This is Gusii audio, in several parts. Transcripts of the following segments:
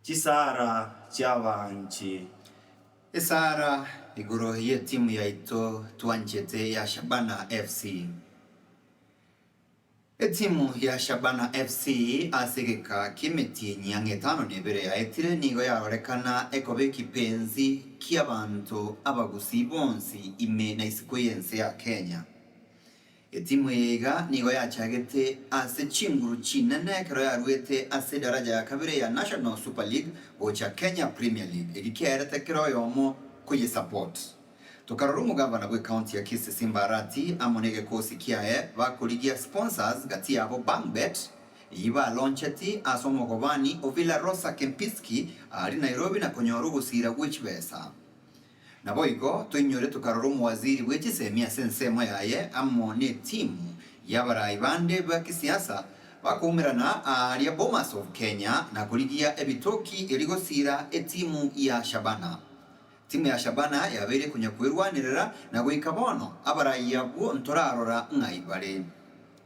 Chisara chi'abaanchi. Esara igoro y'etimu yaito twanchete ya Shabana FC. Etimu ya Shabana FC ase egeka ki'emetienyi ang'e etano na ebere yaetire nigo yarorekana ekoba ekipenzi ki'abanto abagusii bonsi ime na isiko y'ense ya Kenya. Etimu eye iga nigo yachagete ase chinguru chinene ekero yaruete ase edaraja ya kabere ya National Super League gocha Kenya Premier League eri kiaerete kera oyomo koyesupport. Tokarora omogavana bw'ecounty ya Kisii Simba Arati amo negekosi kiaye bakorigia sponsors gati yabo BangBet eyio balauncheti ase omogobani o Villarosa Kempinski aria Nairobi na konyora ogosiira gwe chibesa. Naboigo toinyore tokarora omowaziri bwe chisemi ase ensemo yaye amo netimu y'abarai bande ba kisiasa bakoumerana aaria Bomas of Kenya na korigia ebitoki erio gosiira etimu ya Shabana. Timu ya Shabana yabeire konya kwerwanerera na goika bono abarai abwo ntorarora ng'ai bare.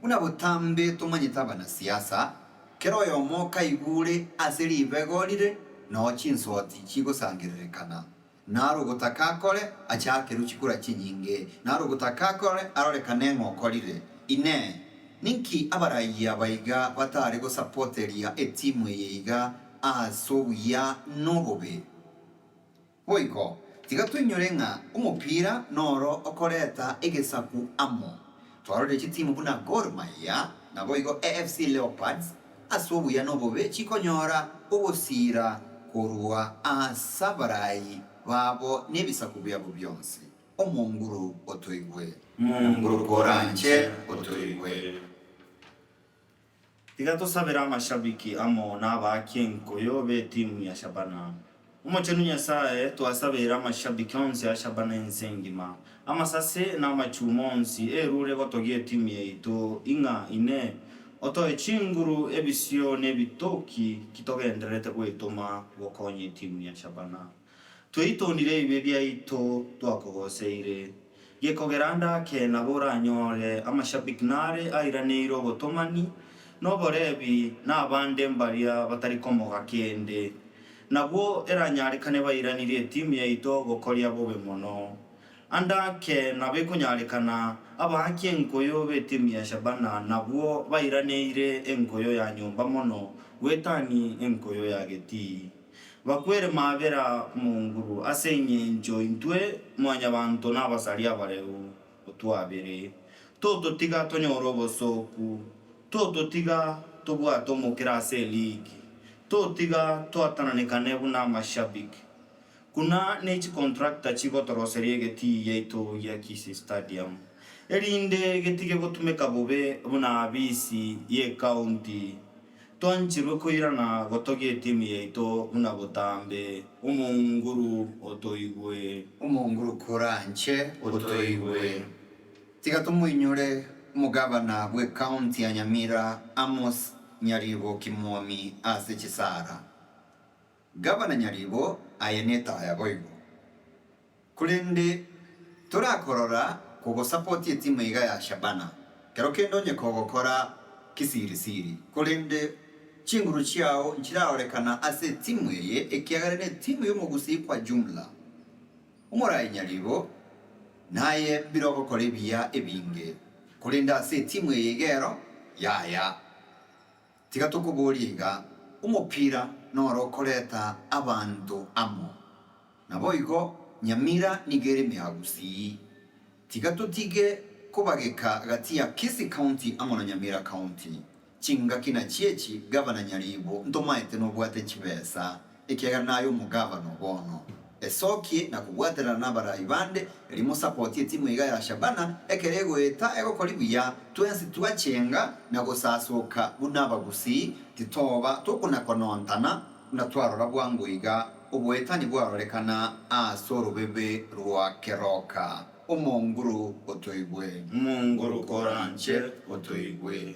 Buna botambe tomanyete abanasiasa, kera oyomo okaigure ase ribego rire noo chinsoti chigosangererekana, naro ogotaka akore achakerwe chikura chinyinge, naro ogotaka akore arorekane ng'a okorire. Inee! Ninki abarayia aba iga batare gosapoteria etimu eye iga ase obuya nobobe? Boigo, tiga toinyore ng'a omopira noro okoreta egesaku amo. Twarorire chitimu buna Gor Mahia, naboigo AFC Leopards ase obuya nobobe chikonyora ogosiira korwa as'abarai babo nebisaku biabo bionsi. Omonguru otoigwe. Monguru koranche otoigwe. Tiga tosabere amashabiki amo nabaaki enkuyu b'etimu ya Shabana. Omochenu Nyasae, twasabeire amashabiki onsi a Shabana ense engima, amasase na amachuuma onsi erure gotogia etimu yaito ing'a ine, otoe chinguru, ebisio na ebitoki ki togendererete goetoma gokonya etimu ya Shabana. Tweitoonire ebibe biaito twakogoseire. Gekogera ndake nabo oranyore amashabik nare airaneire obotomani, noborebi na abande mbaria batari komoga kende. Nabwo eranyarekane bairanirie etimu yaito gokoria bobe mono. Andake nabo ekonyarekana abaaki enkoyo b'etimu ya Shabana nabwo bairaneire enkoyo ya nyomba mono gwetani enkoyo ya getii. Bakwere maabera momurwa ase engencho intwe Mwanyabaanto nabasari abareu, otwabere, tototiga tonyore obosooku, tototiga tobwate omokera ase eligi, totiga twatananekane buna amashabiki, buna ne chicontractor chigotoroseria egetii giaito gia Kisii Stadium, erinde getige gotumeka bobe buna abisi y'ecounty. Twancherwe koirana gotogia etimu yaito buna botambe. Omonguru otoigwe. Omonguru koranche otoigwe. Tiga tomoinyore omogabana bwe county ya Nyamira Amos Nyariboki Mwomi ase chisara. Gavana Nyaribo, Aye netaya boigo, korende torakorora kogosapoti etimu iga ya Shabana, kero kende onye kogokora kisirisiri, korende chinguru chiao nchirarorekana ase etimu eye ekiagera netimu y'omogusii kwa jumla. Omorai Nyaribo, Naye birogokora ebiya ebinge, korende ase etimu eye igero yaya. Tiga tokoborie iga, omopira noro okoreta abanto amo. Naboigo Nyamira nigo ere mea gusii. Tiga totige kobageka gati ya Kisii County amo na Nyamira County. Chingaki nachio echi Gavana Nyaribo ntomaete nobwate chibesa. Ekiagera naye omogavana o bono. Esokie na kobwaterana nabaraai bande, erio mosapotie timu iga ya Shabana ekero egoeta egokori buya, twensi twachenga na gosasoka buna abagusii, titoba tokonakonontana buna twarora bwango iga oboetani bwarorekana ase orobebe rwa keroka. Omonguru otoigwe. Omonguru koranche otoigwe.